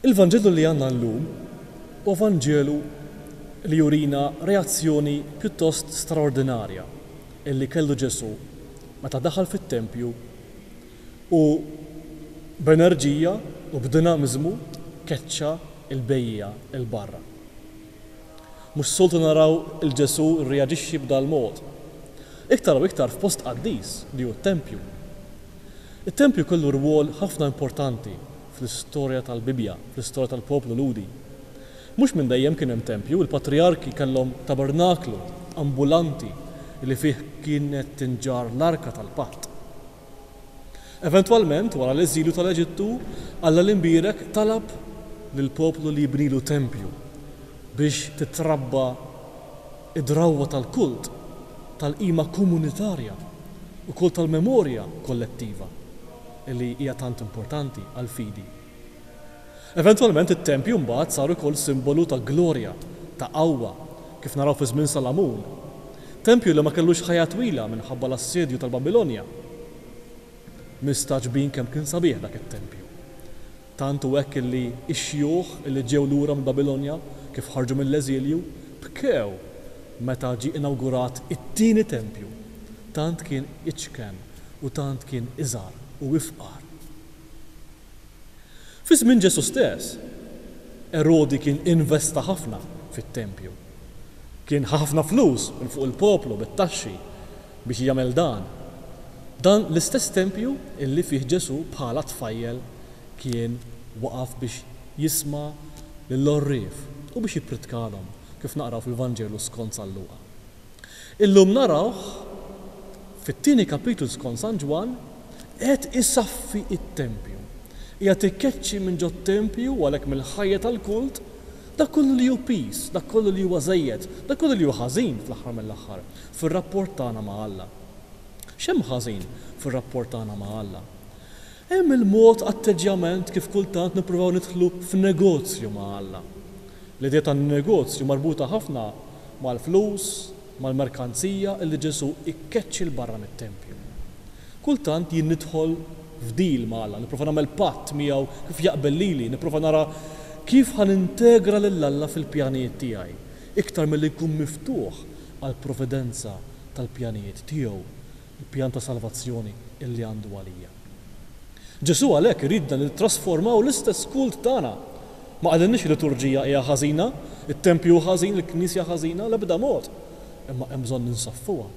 Il-Vanġelu li għandna llum huwa Vanġelu li jurina reazzjoni pjuttost straordinarja li kellu Ġesù meta daħal fit-tempju u b'enerġija u b'dinamiżmu keċċa l-bejjiegħa 'l barra. Mhux soltu naraw 'l Ġesù rreaġixxi b'dal-mod, iktar u iktar f'post qaddis li hu t-tempju. It-tempju kellu rwol ħafna importanti fl-istorja tal-Bibbja, fl-istorja tal-poplu Lhudi. Mhux minn dejjem kien hemm tempju, il-patrijarki kellhom tabernaklu ambulanti li fih kienet tinġarr l-arka tal-patt. Eventwalment, wara l-eżilju tal-Eġittu, Alla l-Imbierek talab lill-poplu li jibnilu tempju biex titrabba d-drawwa tal-kult, tal-qima komunitarja, ukoll tal-memorja kollettiva. li hija tant importanti għall-fidi. Eventwalment it-tempju mbagħad sar ukoll simbolu ta' glorja, ta' qawwa, kif naraw fi żmien Salamun. Tempju li ma kellux ħajja twila minħabba l-assedju tal-Babilonja. Mistagħġbin kemm kien sabiħ dak it-tempju. Tant hu hekk li x-xjuħ li ġew lura mill-Babilonja, kif ħarġu mill-eżilju, bkew meta ġie inawgurat it-tieni tempju. Tant kien iċken u tant kien iżgħar u ifqar. Fi żmien Ġesù stess, Erodi kien investa ħafna fit-tempju. Kien ħa ħafna flus minn fuq il-poplu bit-taxxi Biex jagħmel dan, dan l-istess tempju illi fih Ġesù bħala tfajjel kien waqaf biex jisma' lill-għorrief u biex jippritkalhom, kif naqraw fil-Vanġelu skont San Luqa. Illum narawh, fit-tieni kapitlu skont San Ġwann, qiegħed isaffi t-tempju, qiegħed ikeċċi minn ġot-tempju u għalhekk mill-ħajja tal-kult dak kollu li hu piż, dak kollu li huwa żejjed, dak kollu li hu ħażin fl-aħħar mill-aħħar. fir-rapport tagħna ma' Alla. X'hemm ħażin fir-rapport tagħna ma' Alla? Hemm il-mod, atteġġjament, kif kultant nippruvaw nidħlu f'negozju ma' Alla. L-idea tan-negozju marbuta ħafna mal-flus, mal-merkanzija li Ġesù ikkeċċi 'l barra mit-tempju. Kultant jien nidħol f'deal ma' Alla, nipprova nagħmel patt miegħu kif jaqbel lili, nipprova nara kif ħa nintegra lil Alla fil-pjanijiet tiegħi. Iktar milli jkun miftuħ għall-providenza tal-pjanijiet tiegħu, il-pjan ta' salvazzjoni li għandu għalija. Ġesù għalhekk iridna li nittrasformaw l-istess kult tagħna. Ma qalilniex il-liturġija hija ħażina, it-tempju hu ħażin, il-knisja ħażina, l-ebda mod. Imma hemm bżonn li nsaffuha.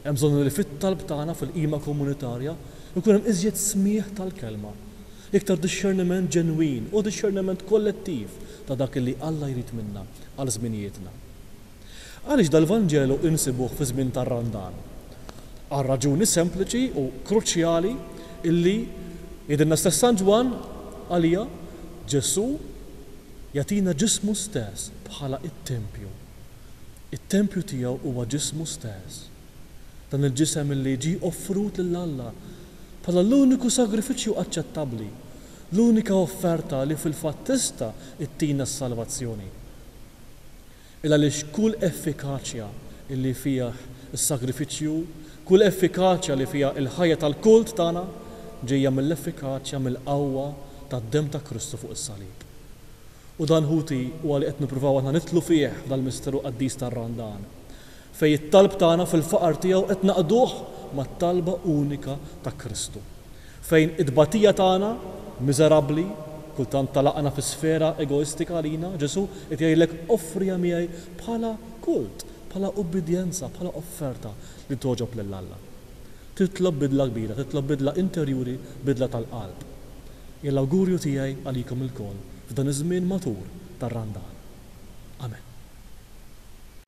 Hemm bżonn li fit-talb tagħna fil-qima komunitarja jkun hemm iżjed smigħ tal-kelma. Iktar dixxerniment ġenwin u dixxerniment kollettiv ta' dak li Alla jrid minna għal żminijietna. Għaliex dal-Vanġelu insibuh fiż-żmien tar-Randan? Għal raġuni sempliċi u kruċjali li, jgħidilna stess San Ġwann, għaliha Ġesù jagħtina ġismu stess bħala t-tempju. It-tempju tiegħu huwa ġismu stess. Dan il-ġisem li ġie offrut lil Alla bħala l-uniku sagrifiċċju aċċettabbli, l-unika offerta li fil-fatt tista' ttina s-salvazzjoni. Il għaliex kull effikaċja li fih is-sagrifiċċju, kull effikaċja li fiha l-ħajja tal-kult tagħna ġejja mill-effikaċja, mill-qawwa tad-demm ta' Kristu fuq is-salib. U dan ħuti huwa li qed nippruvaw aħna nidħlu fih f'dal-misteru qaddis tar-Randan. fejn it-talb tagħna fil-faqar tiegħu qed naqduh mat-talba unika ta' Kristu, fejn it-tbatija tagħna, miżerabbli, kultant tagħlaqna fi sfera egoistika għalina, Ġesù qed jgħidlek offriha miegħi bħala kult, bħala ubbidjenza, bħala offerta li togħġob lil Alla. Titlob bidla kbira, titlob bidla interjuri, bidla tal-qalb. Hija l-awgurju tiegħi għalikom ilkoll f'dan iż-żmien matur tar-Randan. Amen.